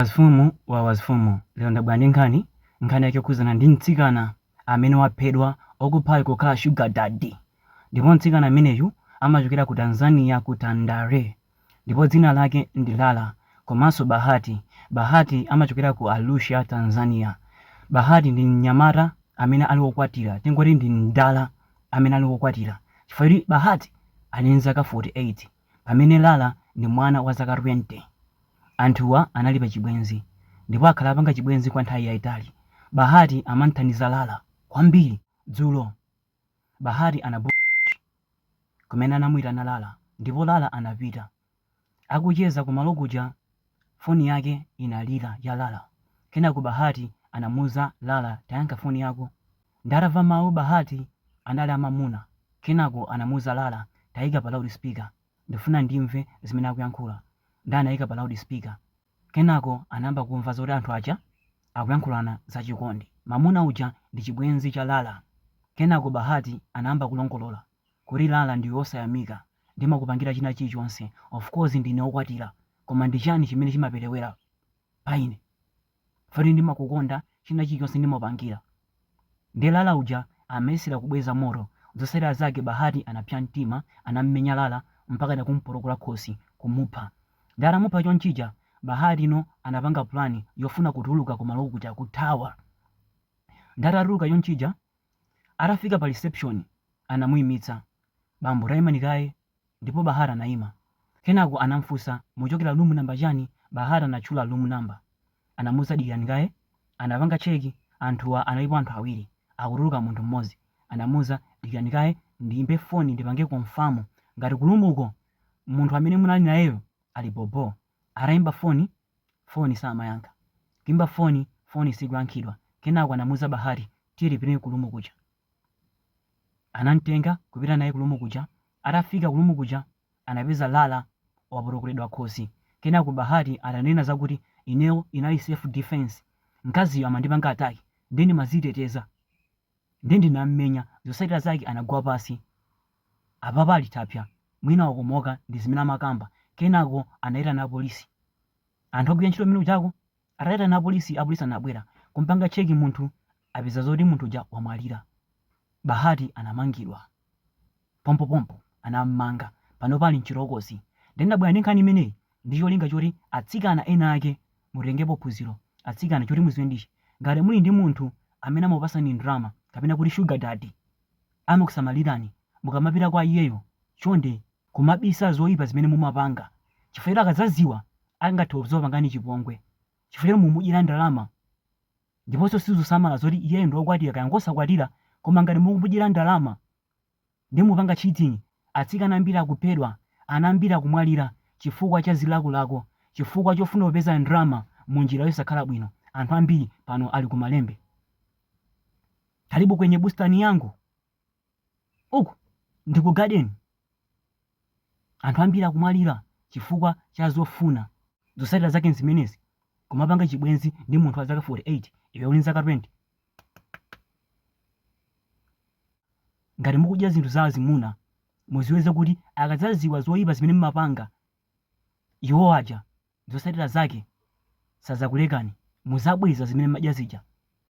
Wazifumu wa wazifumu lero ndabwera ndi nkhani, nkhani yake yokhudzana ndi mtsikana amene waphedwa okuphayo kukhala sugar daddy ndipo mtsikana ameneyu amachokera ku Tanzania ku Tandale ndipo dzina lake ndi Lala komanso Bahati, Bahati amachokera ku Arusha Tanzania, Bahati ndi mnyamata amene ali okwatira tingoti ndi mdala amene ali okwatira chifukwa choti Bahati ali ndi zaka 48. Pamene Lala ndi mwana wa zaka 20, anthuwa anali pa chibwenzi ndipo akhala apanga chibwenzi kwa nthawi yaitali. Bahati amam'thandiza Lala kwambiri. Dzulo, Bahati anabuka kumene anamuitana Lala ndipo Lala anapita. Akucheza kumalo kuja Foni yake inalira, ya Lala. Kenako Bahati anamuuza, Lala tayankha foni yako. Nde atamva mawu Bahati anali amamuna kenako anamuuza Lala, Tayika pa loud speaker ndifuna ndimve zimene akuyankhula nde anayika pa loud speaker kenako anayamba kumva zoti anthu aja akuyankhulana za chikondi. Mamuna uja ndi chibwenzi cha Lala. Kenako Bahati anayamba kulongolola. Kuti Lala ndiwe osayamika ndimakupangira china chilichonse of course ndine okwatira koma ndi chani chimene chimapelewera pa ine poti ndimakukonda china chilichonse ndimakupangira nde Lala uja amayesera kubweza moto zotsatira zake Bahati anapsya mtima anamumenya Lala mpakana kumupotokola khosi kumupha nde atamupha chonchija Bahati no anapanga plan yofuna kutuluka kumalo kuja kuthawa nde atatuluka chonchija Atafika pa reception anamuimitsa bambo taimani kaye ndipo Bahati anaima. Kenako anamfunsa muchokera room number chani Bahati anatchula room number. Anamuuza dikirani kaye. Anapanga check anthuwa analipo anthu awiri akutuluka munthu mmodzi. Anamuuza dikirani kaye ndiimbe phone ndipange confirm ngati ku room ko munthu amene munali nayeyo ali bho bho. Ataimba phone. foni samayankha. Kuimba foni, foni sikuyankhidwa. Kenako anamuuza Bahati, Tiye tipite ku lumu kuja. Anam'tenga kupita naye ku lumu kuja. Atafika ku lumu kuja anapeza Lala wapotokoledwa khosi. Kenako Bahati atanena zakuti ineyo inali self defense, mkaziyo amandipanga attack, ndiye ndimadziteteza. Nde ndinammenya zotsatira zake anagwa pasi apapa ali thapsa mwina wakomoka ndi zimene amakamba kenako anaitana apolisi anthu ogwira ntchito mmene mujako ataitana apolisi apolisi anabwera kumpanga check munthu apeza zoti munthu uja wamwalira Bahati anamangidwa. Pompopompo anam'manga. Panopa ali m'chitokosi. Ndiye ndabwera ndi nkhani imeneyi ndi cholinga choti atsikana ena ake mutengepo phunziro. Atsikana, choti mudziwe ndi ichi, ngati muli ndi munthu amene amakupatsani ndalama kapena kuti sugar daddy, amakusamalirani, mukamapita kwa iyeyo, chonde kumabisa zoipa zimene mumapanga chifukwa choti akadzadziwa angathe kudzakupangani chipongwe chifukwa choti mumudyera ndalama. Ndiponso sizusamala zoti iyeyo ndi wokwatira kaya ngosakwatira koma ngati mukumudyera ndalama ndi mukupanga cheating, atsikana ambiri akuphedwa, ana ambiri akumwalira chifukwa cha zilakolako chifukwa chofuna kupeza ndalama mu njira yosakhala bwino anthu ambiri pano ali ku malembe. Karibu kwenye bustani yangu. Uku ndi ku garden. Anthu ambiri akumwalira chifukwa cha zofuna. Zotsatira zake n'zimenezi, Kumapanga chibwenzi ndi munthu wa zaka 48 iwe uli ndi zaka 20. Ngati mukudya zinthu za azimuna, mudziwe zakuti akadzadziwa zoipa zimene mumapanga iwo aja, zotsatira zake sadzakulekani. Mudzabweza zimene mumadya zija.